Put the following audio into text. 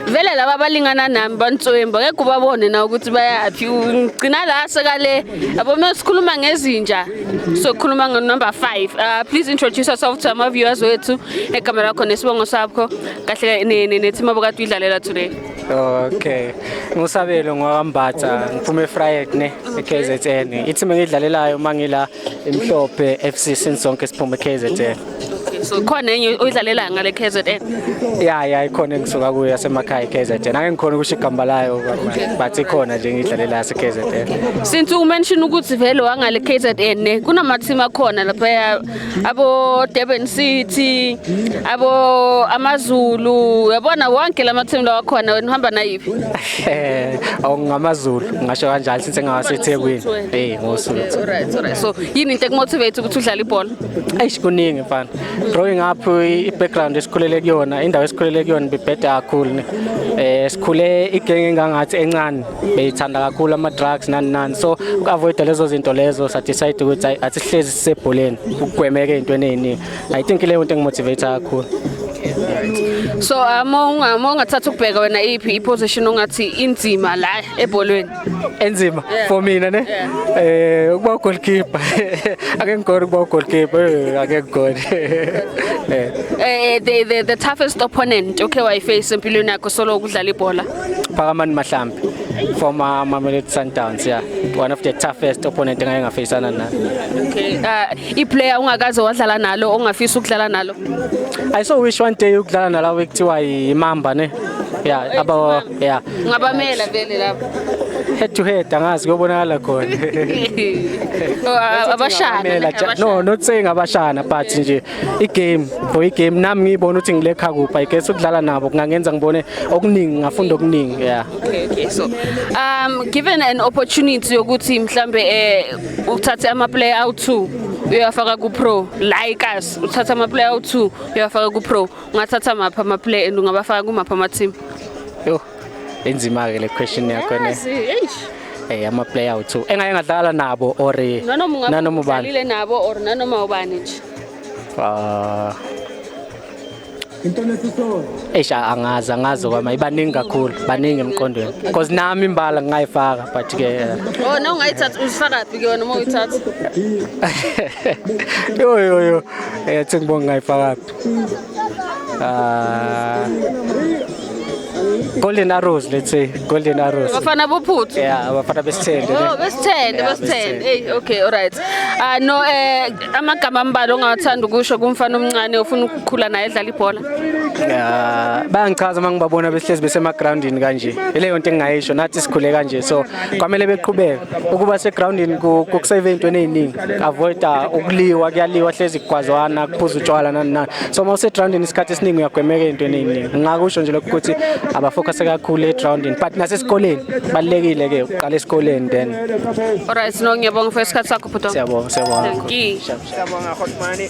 vele laba balingana nami bantswemba ngeke ubabone na ukuthi bayaphi ngigcina la sekale yabo uma sikhuluma ngezinja sokhuluma ngonumber 5 uh, please introduce yourself to our viewers wethu egama lakho nesibongo sakho kahle ne-team abokade uyidlalela today okay ngusabelo ngwakambatha ngiphume efried ne e-kzn i-team engiyidlalelayo uma ngila Imhlophe FC since sonke siphuma eKZN. So khona enye oyidlalela ngale KZN. Ya ya ikhona engisuka kuyo yasemakhaya iKZN. Ake ngikhona ukusho igamba layo but ikhona nje ngidlalela yase KZN. Since u mention ukuthi vele wangale KZN ne kunama team akhona lapha abo Durban City abo AmaZulu yabona wonke lama team lawa khona wena uhamba nayiphi? Eh, awungamaZulu ngasho kanjalo since ngawaseThekwini. Eh, ngoSuthu. Alright, alright. So, yini into ekumotivate ukuthi udlale ibhola? Eish kuningi mfana. Growing up i- i-background esikhulele kuyona, indawo esikhulele kuyona bibhede kakhulu. ne. Eh sikhule igenge engangathi encane, beyithanda kakhulu ama drugs nani nani. So ukuavoid lezo zinto lezo sa decide ukuthi ayi- asihlezi sisebholeni, ukugwemeke into eningi. I think leyo into engimotivate kakhulu so um, uma uma ungathatha ukubheka wena iphi iposition ongathi inzima la ebholweni enzima yeah. for mina ne yeah. eh ukuba goalkeeper ake ngigore ukuba goalkeeper eh, ake ngigore eh. eh the, the the toughest opponent okay wayiface empilweni yakho solo ukudlala ibhola Phakamani Mahlambi from uh, Mamelodi Sundowns yeah one of the toughest opponent engake ngafacana nayo okay uh, i player ungakaze wadlala nalo ongafisa ukudlala nalo i so wish one day ukudlala nalawo ekuthiwa imamba ne yeah aba yeah ngabamela vele lapho head to head angazi kuyobonakala khona oh, abashana no not saying abashana but nje igame for igame nami ngiyibona ukuthi ngilekha kuphi i guess ukudlala nabo kungangenza ngibone okuningi ngafunda okuningi yeah okay okay so um given an opportunity yokuthi mhlambe eh uthathe ama player out two uyafaka ku pro like us uthatha ama player out two uyafaka ku pro ungathatha mapha ama player and ungabafaka kumapha ama team yo Enzima-ke le question yakho ne. Yazi, eish. Eh ama player awuthu. Engake ngadlala nabo or Nanoma ungabe nanoma ubani. udlalile nabo or nanoma ubani nje. Ah. Eish angazi angazi kwama ibaningi kakhulu baningi emqondweni. Because nami imbala ngingayifaka but ke eh, Oh, no ungayithatha uzifaka phi ke wena uma uyithatha? yo yo yo. Eh sengibonga ngayifaka. Uh, golden arrows let's say golden arrows bafana bophuthu yeah bafana besithende oh besithende yeah, besithende hey okay all right uh, no eh amagama ambalo ongathanda ukusho kumfana omncane ofuna ukukhula naye edlala ibhola yeah bayangichaza uma ngibabona behlezi besemagroundini kanje ileyo nto engingayisho nathi sikhule kanje so kwamele beqhubeke ukuba segroundini kukusave into eziningi avoida ukuliwa kuyaliwa hlezi kugwazwana kuphuza utshwala nani nani so uma usegroundini isikhathi esiningi uyagwemeka into eningi ngakusho nje lokho ukuthi abafocuse kakhulu egroundini but nasesikoleni balekile ke uqala esikoleni then alright no ngiyabonga for isikhathi sakho bhuti siyabonga siyabonga siyabonga hotmani